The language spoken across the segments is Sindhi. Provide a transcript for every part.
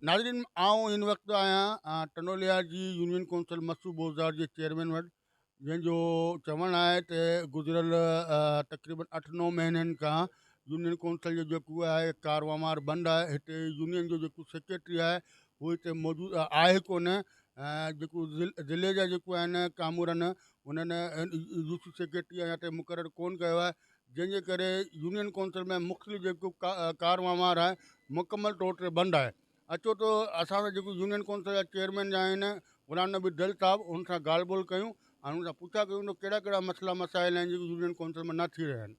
ناظرين آئون هن وقت آهيان ٽنڊوليا جي يونين ڪونسل مسعود بوزدار جي چيئرمين وٽ جنهن جو چوڻ آهي ته گذريل تقريبن اٺ نو مهينن کان يونين ڪونسل جو جيڪو آهي ڪاروامار بند آهي هتي يونين جو جيڪو سيڪريٽري آهي هو هتي موجود آهي ڪونه جيڪو ضلعي جا جيڪو آهن ڪامور آهن انهن يوسف سيڪريٽري هتي مقرر ڪون ڪيو آهي جنهن جي ڪري يونين ڪونسل ۾ مختلف جيڪو ڪاروامار آهي مڪمل طور تي بند آهي اچو ته اسان سان جيڪو يونين ڪونسل جا چيئرمين آهن غلام نبي دل صاحب انهن سان ڳالهه ٻولهه ڪيون ۽ انهن سان پڇا ڪيون ته ڪهڙا ڪهڙا مسئلا مسائل آهن جيڪي يونين ڪونسل ۾ نه ٿي رهيا آهن.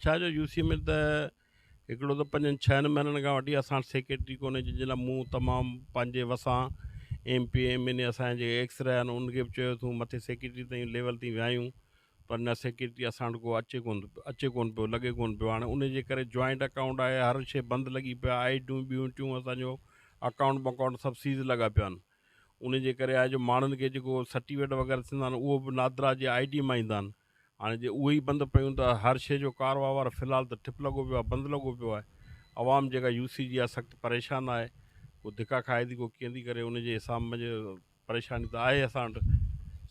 ڇا جو يو سي ۾ ته هڪڙو ته پنجن ڇهن مهينن کان وٺي اسان وٽ سيڪريٽري ڪونهي جنهن جي لاء مون تمام پنهنجي وسان M P M N A اسان جا جيڪي ايڪس رهيا آهن انهن کي به چيو اٿون مٿي سيڪريٽري تائين ليول تائين ويا آهيون پر نه سيڪيورٽي اسان وٽ ڪو اچي ڪون ٿو اچي ڪون پيو لڳي ڪون پيو هاڻي ان جي ڪري جوائنٽ اڪائونٽ آهي هر شي بند لڳي پيا آئي ڊيون ٻيون ٽيون اسان جو اڪائونٽ بڪائونٽ سڀ سيز لڳا پيا آهن ان جي ڪري آهي جو ماڻهن کي جيڪو سرٽيفڪيٽ وغيره ٿيندا آهن اهو به نادرا جي آئي ڊي مان ايندا آهن هاڻي جي اهي ئي بند پيون ته هر شي جو ڪار وهنوار في الحال ته ٺپ لڳو پيو آهي بند لڳو پيو آهي عوام جيڪا يو سي جي آهي سخت پريشان آهي ڪو ڌڪا کائي ٿي ڪو ڪيئن ٿي ڪري ان جي حساب مجي پريشاني ته آهي اسان وٽ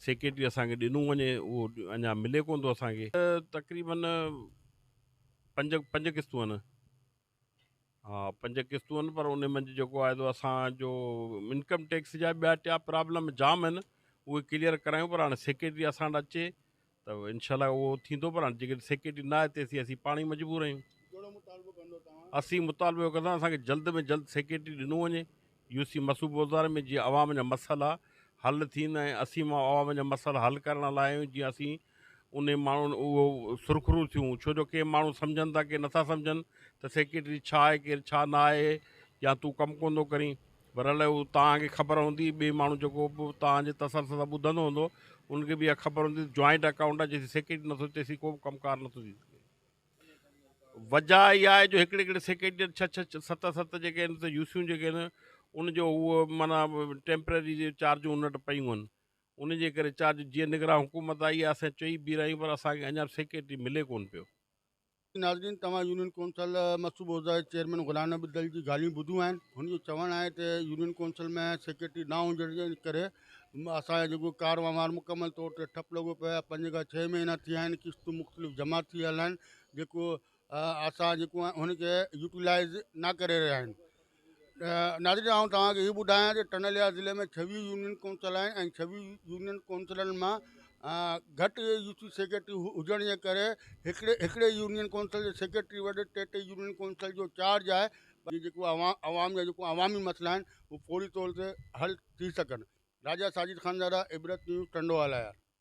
سيڪريٽري اسان کي ڏنو وڃي اهو اڃا ملي ڪونه ٿو اسان کي تقريباً پنج پنج قسطون آهن ها پنج قسطون آهن پر ان منجهه جيڪو آهي تو اسان جو انڪم ٽيڪس جا ٻيا ٽيا پرابلم جام آهن اهي ڪليئر ڪرايون پر هاڻي سيڪريٽري اسان وٽ اچي ته انشاء الله اهو ٿيندو پر هاڻي جيڪڏهن سيڪريٽري نه آهي تيسين اسين پاڻ ئي مجبور آهيون. ڪهڙو مطالبو ڪندو توهان؟ اسين مطالبو اهو ڪنداسين اسان کي جلد ۾ جلد سيڪريٽري ڏنو وڃي يو سي مصوبه وزارت ۾ جيئن عوام جا مسئلا حل ٿين ۽ اسين مان عوام جا مسئلا حل ڪرڻ لاء آهيون جيئن اسين انهي ماڻهن اهو سرخرو ٿيون ڇو جو ڪي ماڻهو سمجهن ٿا ڪي نٿا سمجهن ته سيڪريٽري ڇا آهي ڪير ڇا نه آهي يا تون ڪم ڪون ٿو ڪرين برحال هو توهان کي خبر هوندي ٻئي ماڻهو جيڪو به توهان جي تسلسل سان ٻڌندو هوندو ان کي به اها خبر هوندي ته جوائنٽ اڪائونٽ آهي جيسين سيڪريٽري نٿو اچي تيسين ڪو به ڪم ڪار نٿو ٿي سگهي وجهه اها آهي جو هڪڙي هڪڙي سيڪريٽري ڇهه ڇهه ست ست جيڪي آهن ته يوسيون جيڪي آهن ان جو هو مانا ٽيمپرري جي چارجون ان وٽ پيون آهن ان جي ڪري چارج جيئن نگران حڪومت آئي اسين چئي بيهرا آهيون پر اسان کي اڃا سيڪريٽري ملي ڪون پيو ناظرين توهان يونين ڪونسل مصوبه عهده جي چيئرمين غلام نبي بدل جي ڳالهيون ٻڌيون آهن هن جو چوڻ آهي ته يونين ڪونسل ۾ سيڪريٽري نه هجڻ جي ڪري اسان جو جيڪو ڪار وهنوار مڪمل طور تي ٺپ لڳو پيو آهي پنج کان ڇهه مهينا ٿي ويا آهن قسطون مختلف جمع ٿي ويل آهن جيڪو اسان جيڪو آهن هن کي يوٽيلائز نه ڪري رهيا آهيون ناظرين آئون توهان کي هي ٻڌايان ته ٽنهليا ضلعي ۾ ڇويهه يونين ڪونسلن ۽ ڇويهه يونين ڪونسلن مان گهٽ يو سي سيڪريٽري هجڻ جي ڪري هڪڙي هڪڙي يونين ڪونسل جي سيڪريٽري وٽ ٽي ٽي يونين ڪونسل جو چارج آهي پر جيڪو عوام جا جيڪو عوامي مسئلا آهن اهي فوري طور تي حل ٿي سگهن راجا ساجد خانزاده عبرت نيوز ٽنڊوالهيار